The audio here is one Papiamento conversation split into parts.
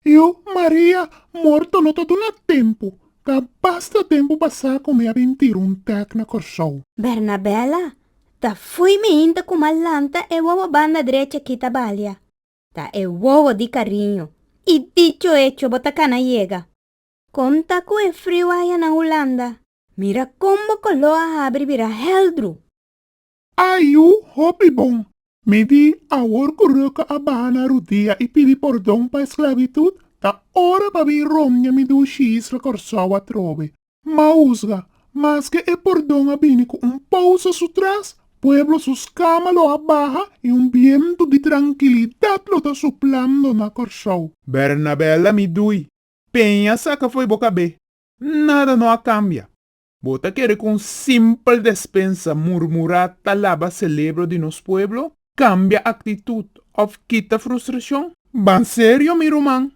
Io, Maria, morto lo ta duna tempu. Ta basta tempu pasá ku mi a bin tira un tèk na Kòrsou. Bernabela, Ta fui mi hinta ku m'a lanta e wowo banda drecha kita balia. Ta e wowo di kariño. I dicho hecho bo ta kana yega. Kon ta ku e friu aya na Hulanda? Mira kon bo kolo a habri bira heldru. A yu hopi bon. Mi di, awor ku Röka a baha na rudia i pidi pordon pa esklavitut, ta ora pa bin romña mi dushi isla Kòrsou atrobe. Mausga, maske e pordon a bini ku un pousa su tras, pueblo su skama lo a baha i un bientu di trankilidat lo ta suplando na Kòrsou. Bernabela, mi dui, peña saka fo'i bo kabé. Nada no a cambia. Bo ta kere cu un simpel despensa murmura ta laba celebro di nos pueblo? Cambia actitud of kita frustracion. Ban serio mi ruman.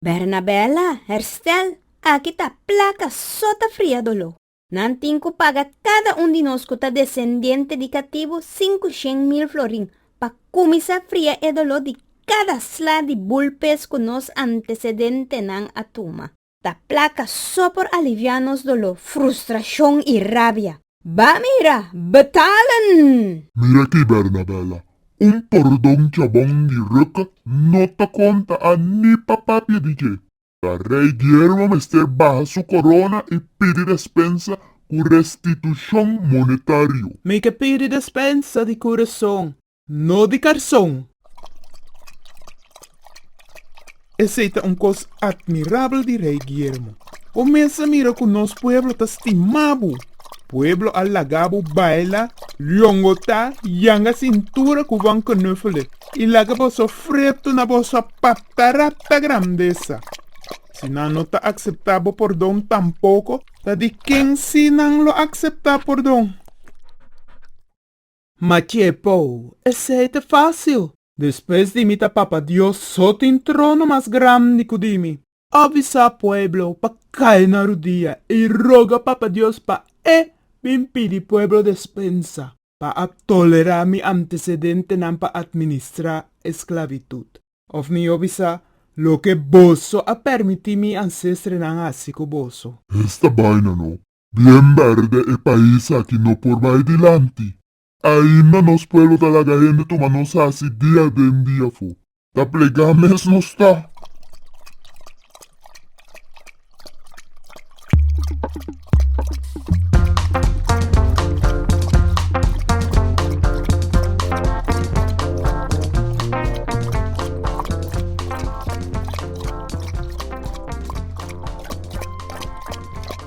Bernabella, Herstel, aki ta placa so ta fria dolo. Nan tin cu paga cada un di nos cu ta descendiente di catibu sinku shen mil florin pa cuminsa fria e dolo di cada sla di bulpes cu nos antecedentenan a tuma. Ta plaka so por alivia nos doló, frustrashon i rabia. Ba mira, betalen! Mira aki, Bernabela, un pordon chabon di ruk no ta konta a ni pa papia di dje. Ta rei Guillermo mester baha su korona i pidi despensa ku restitushon monetario. Mi ke pidi despensa di kurason. No di karson. Esei ta un kos atmirabel di Rei Guillermo. Bo mes a mira ku nos pueblo ta stima bo. Pueblo a laga bo baila, longotá, yanga sintura ku Van Knuffelen i laga boso fretu na boso patarata grandesa. Si nan no ta akseptá bo pordon tampoko ta di ken sí nan lo akseptá pordon. Ma dje pou, esei ta fásil. Despues di mi ta Papa Dios, so tin trono mas grandi ku di mi. A bisa pueblo pa kai na rudia i roga Papa Dios pa E bin pidi pueblo despensa pa a tolerá mi antesedentenan pa atministrá esklavitut. Òf mi yo bisa, Loke boso a permití mi ansestrenan hasi ku boso. Esta baina no Bien berde e pais aki no por bai dilanti. Ainda nos pueblo ta laga hende tuma nos hasi dia den dia fo. Ta plegá mes nos ta.